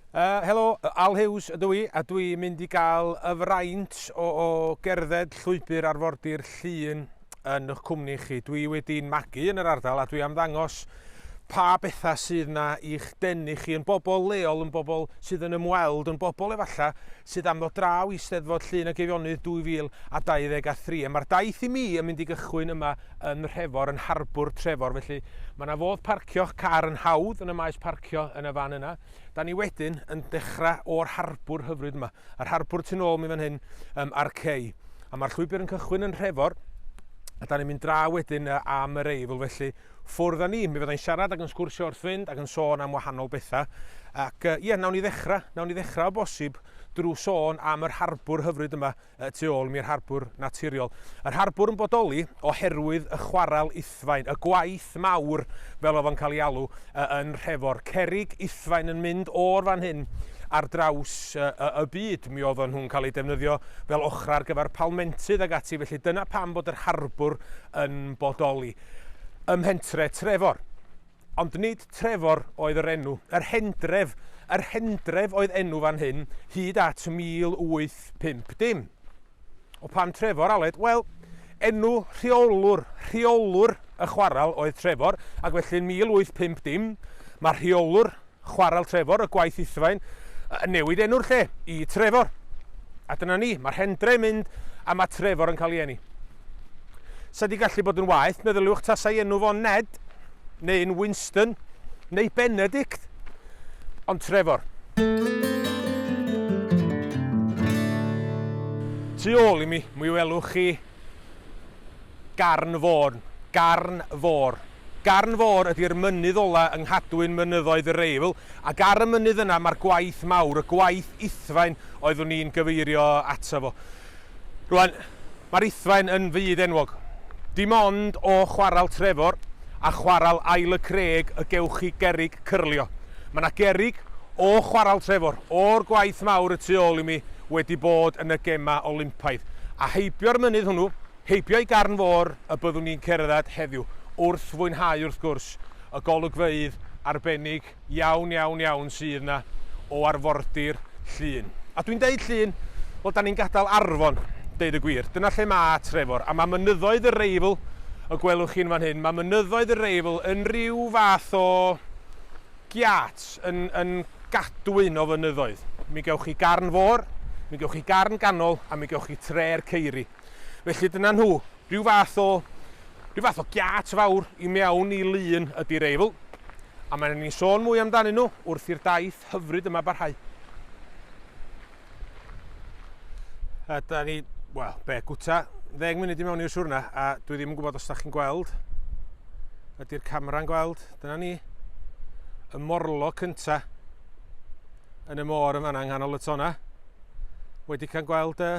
Yy, helo, Al Hughes ydw i, a dwi mynd i gael y fraint o, o gerdded llwybr arfordir Llŷn yn ych cwmni chi. Dwi wedi'n magu yn yr ardal a dwi am ddangos pa bethau sydd na i'ch denu chi yn bobl leol, yn bobl sydd yn ymweld, yn bobl efallai sydd am ddod draw i Steddfod Llŷn a Geifionydd 2023. A mae'r daith i mi yn mynd i gychwyn yma yn Nhrefor, yn harbwr Trefor, felly mae yna fodd parcio'ch car yn hawdd yn y maes parcio yn y fan yna. Da ni wedyn yn dechrau o'r harbwr hyfryd yma, yr harbwr tu ôl mi fan hyn um, a'r cei. A mae'r llwybr yn cychwyn yn Nhrefor, a da ni'n mynd dra wedyn am yr eifl, felly ffwrdd â ni. Mi fyddai'n siarad ac yn sgwrsio wrth fynd ac yn sôn am wahanol bethau. Ac ie, yeah, nawn ni ddechrau, nawn ni ddechrau o bosib drwy sôn am yr harbwr hyfryd yma y tu ôl i'r harbwr naturiol. Yr harbwr yn bodoli oherwydd y chwarel Uthfaen, y gwaith mawr fel oedd o'n cael ei alw yn Nhrefor. Cerrig Uthfaen yn mynd o'r fan hyn ar draws y byd. Mi oedden nhw'n cael eu defnyddio fel ochrau ar gyfer palmentydd ac ati, felly dyna pam bod yr harbwr yn bodoli ym mhentre Trefor. Ond nid Trefor oedd yr enw. Yr Hendref, yr Hendref oedd enw fan hyn hyd at 1850. O pam Trefor, Aled? Wel, enw rheolwr, rheolwr y chwarel oedd Trefor, ac felly yn 1850, mae rheolwr Chwarel Trefor, y gwaith Uthfaen, yn newid enw'r lle i Trefor. A dyna ni, mae'r hen dre'n mynd a mae Trefor yn cael ei eni. Sa di gallu bod yn waeth, meddyliwch tasai enw fo'n Ned, neu'n Winston, neu Benedict, ond Trefor. Tu ôl i mi, mi welwch chi Garn Fôn, Garn Fôr, Garn Fôr ydi'r mynydd ola yng nghadwyn mynyddoedd yr Eifl, ac ar y mynydd yna mae'r gwaith mawr, y gwaith Uthfaen oeddwn i'n gyfeirio ato fo. Rŵan, mae'r Uthfaen yn fyd enwog. Dim ond o Chwarel Trefor a Chwarel Ael y Craig y gewch chi gerrig cyrlio. Mae 'na gerrig o Chwarel Trefor, o'r gwaith mawr y tu ôl i mi, wedi bod yn y Gemau Olympaidd. A heibio'r mynydd hwnnw, Heibio i Garn Fôr y byddwn ni'n cerdded heddiw, wrth fwynhau wrth gwrs y golygfeydd arbennig iawn, iawn, iawn sydd 'na o arfordir Llŷn. A dwi'n deud Llŷn, wel 'dan ni'n gadael Arfon, deud y gwir. Dyna lle ma' Trefor, a ma' mynyddoedd y Reifl, y gwelwch chi'n fan hyn, ma' mynyddoedd y Reifl yn rhyw fath o giât, yn yn gadwyn o fynyddoedd. Mi gewch chi Garn Fôr, mi gewch chi Garn Ganol, a mi gewch chi Tre'r Ceiri. Felly dyna nhw, rhyw fath o, rhyw fath o giât fawr i mewn i lun ydi Reifl, a mae 'na ni'n sôn mwy amdanyn nhw wrth i'r daith hyfryd yma barhau. A da ni, wel, be, gwta ddeng munud i mewn i'r siwrna, a dwi ddim yn gwybod os da chi'n gweld, ydy'r camera'n gweld, dyna ni, y morlo cynta yn y môr yn fanna yng nghanol y tona, wedi cael gweld y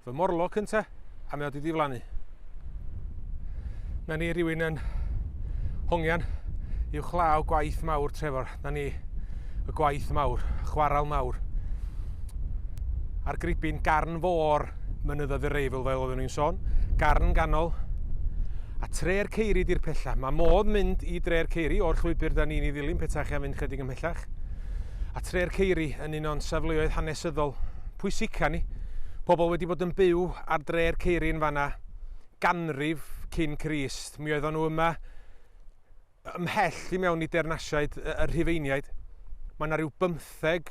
fy morlo cynta a mae o wedi diflannu. Na ni rhywun yn hongian i'w chlaw gwaith mawr Trevor. Na ni y gwaith mawr, chwarael mawr. A'r gribyn garn fôr mynyddoedd yr eifl fel oeddwn i'n sôn, garn ganol a tre'r ceiri di'r pella. Mae modd mynd i dre'r ceiri o'r llwybr da ni'n ei ddilyn peta chi am fynd chydig ymhellach. A tre'r ceiri yn un o'n safleoedd hanesyddol pwysica ni. Pobl wedi bod yn byw ar dre'r ceiri yn fanna ganrif cyn Crist. Mi oeddon nhw yma ymhell i mewn i deyrnasiaid y Rhufeiniaid. Mae yna rhyw bymtheg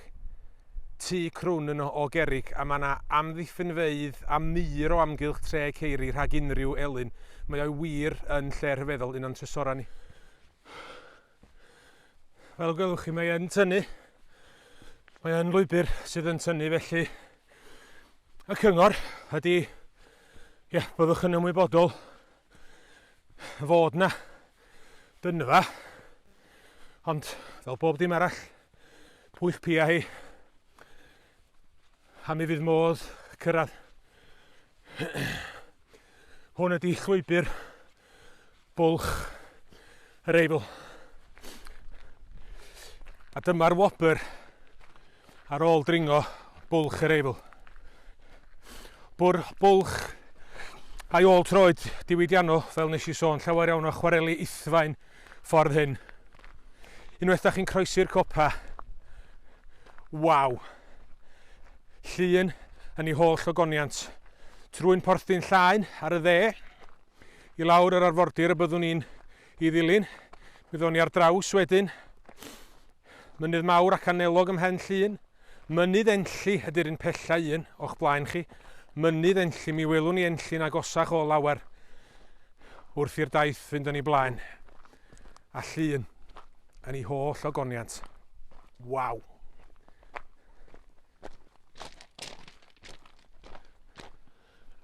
tu crwn yn o gerig a mae yna amddiffynfeydd a mur o amgylch tre ceiri rhag unrhyw elyn. Mae o'i wir yn lle rhyfeddol un o'n trysorau ni. Fel gwelwch chi mae yn tynnu. Mae yn lwybr sydd yn tynnu felly y cyngor ydy ia, byddwch yn ymwybodol fod na dynfa ond fel bob dim arall pwyll pia hi a mi fydd modd cyrraedd. Hwn ydy llwybr Bwlch yr Eifl. A dyma'r wobr ar ôl dringo Bwlch yr Eifl. Bwr Bwlch a'i ôl troed diwydiannol, fel nes i sôn, llawer iawn o chwareli ithfaen ffordd hyn. Unwaith da chi'n croesi'r copa, waw! Llun yn ei holl ogoniant. Trwy'n porthdyn llaen ar y dde, i lawr yr arfordir y byddwn ni'n i ddilyn. Mi ddo'n ni ar draws wedyn mynydd mawr ac anelog ym Mhen Llŷn. Mynydd Enlli ydy'r un pella un o'ch blaen chi. Mynydd Enlli, mi welwn ni Enlli'n agosach o lawer wrth i'r daith fynd yn ei blaen. A Llŷn yn ei holl ogoniant. Waw!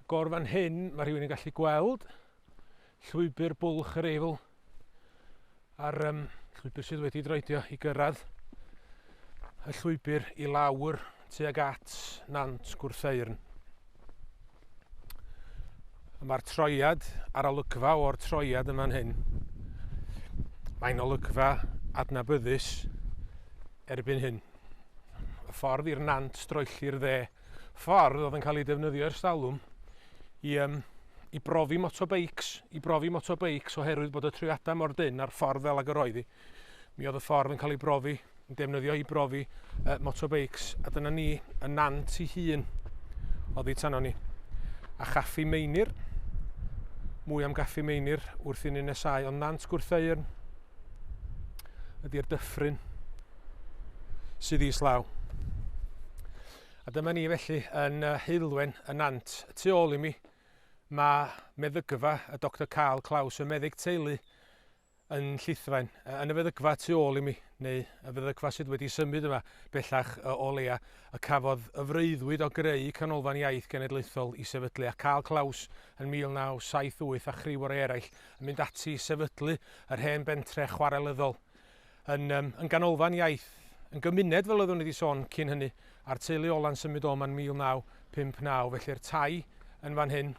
Agor fan hyn, mae rhywun yn gallu gweld llwybr bwlch yr Eifl a'r um, llwybr sydd wedi droedio i gyrraedd y llwybr i lawr tuag at Nant Gwrtheyrn. Mae'r troiad a'r olygfa o'r troiad yn fan hyn. Mae'n olygfa adnabyddus erbyn hyn. Y ffordd i'r nant droelli'r dde ffordd oedd yn cael ei defnyddio ers talwm i, um, i brofi motobeics, i brofi motobeics oherwydd bod y triadau mor dyn a'r ffordd fel ag yr oedd hi. Mi oedd y ffordd yn cael ei brofi, yn defnyddio i brofi uh, motobeics, a dyna ni yn nant i hun oedd ei tanno ni. A chaffi meinir, mwy am gaffi meinir wrth i ni nesau ond nant gwrthau'r ydy'r dyffryn. sydd i islaw. A dyma ni felly yn uh, heulwen y nant. Y tu ôl i mi, mae meddygfa y Dr Carl Claus, y meddyg teulu yn llithfaen, yn y feddygfa tu ôl i mi, neu y feddygfa sydd wedi symud yma bellach o leia, y cafodd y freuddwyd o greu Canolfan Iaith Genedlaethol i sefydlu, a Carl Claus yn 1978 a chriw o'r eraill yn mynd ati i sefydlu yr hen bentre chwarelyddol yn, um, yn ganolfan iaith, yn gymuned fel oeddwn i wedi sôn cyn hynny, a'r teulu ola'n symud o'ma yn 1959, felly'r tai yn fan hyn,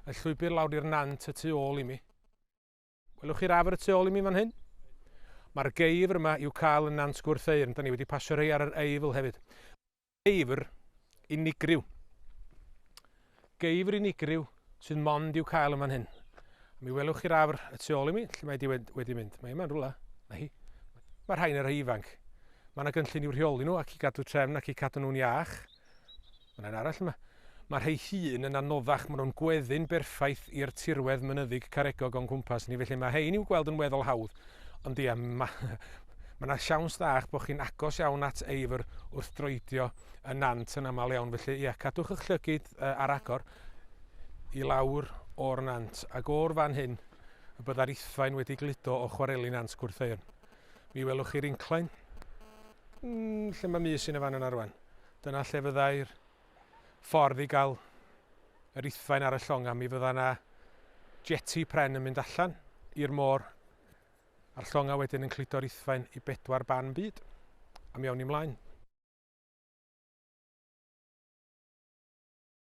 y llwybr lawr i'r nant y tu ôl i mi. Welwch chi'r afr y tu ôl i mi fan hyn? Mae'r geifr yma i'w cael yn Nant Gwrtheyrn, da ni wedi pasio rhai ar yr Eifl hefyd. Geifr unigryw. Geifr unigryw sydd mond i'w cael yn fan hyn. Mi welwch chi'r afr y tu ôl i mi, lle mae di wedi mynd. Mae yma'n rhywle, na hi. Mae rhain y rhai ifanc. Mae yna gynllun i'w rheoli nhw ac i gadw trefn ac i cadw nhw'n iach. Mae yna arall yma. Mae rhei hŷn yn anoddach, maen nhw'n gweddu'n berffaith i'r tirwedd mynyddig caregog o'n cwmpas ni, felly mae rhein i'w gweld yn weddol hawdd. Ond ia, mae mae yna siawns dda eich bod chi'n agos iawn at eifr wrth droedio y nant yn aml iawn, felly ia, cadwch eich llygid uh, ar agor i lawr o'r nant, ac o'r fan hyn y byddai'r ithfaen wedi gludo o chwareli nant Gwrtheuon. Mi welwch chi'r inclain, mm, lle mae mis yn y fan yna rwan. Dyna lle fyddai'r ffordd i gael yr ithfaen ar y llongau, mi fydda yna jeti pren yn mynd allan i'r môr a'r llongau wedyn yn cludo'r ithfaen i bedwar ban byd. A mi awn ni mlaen.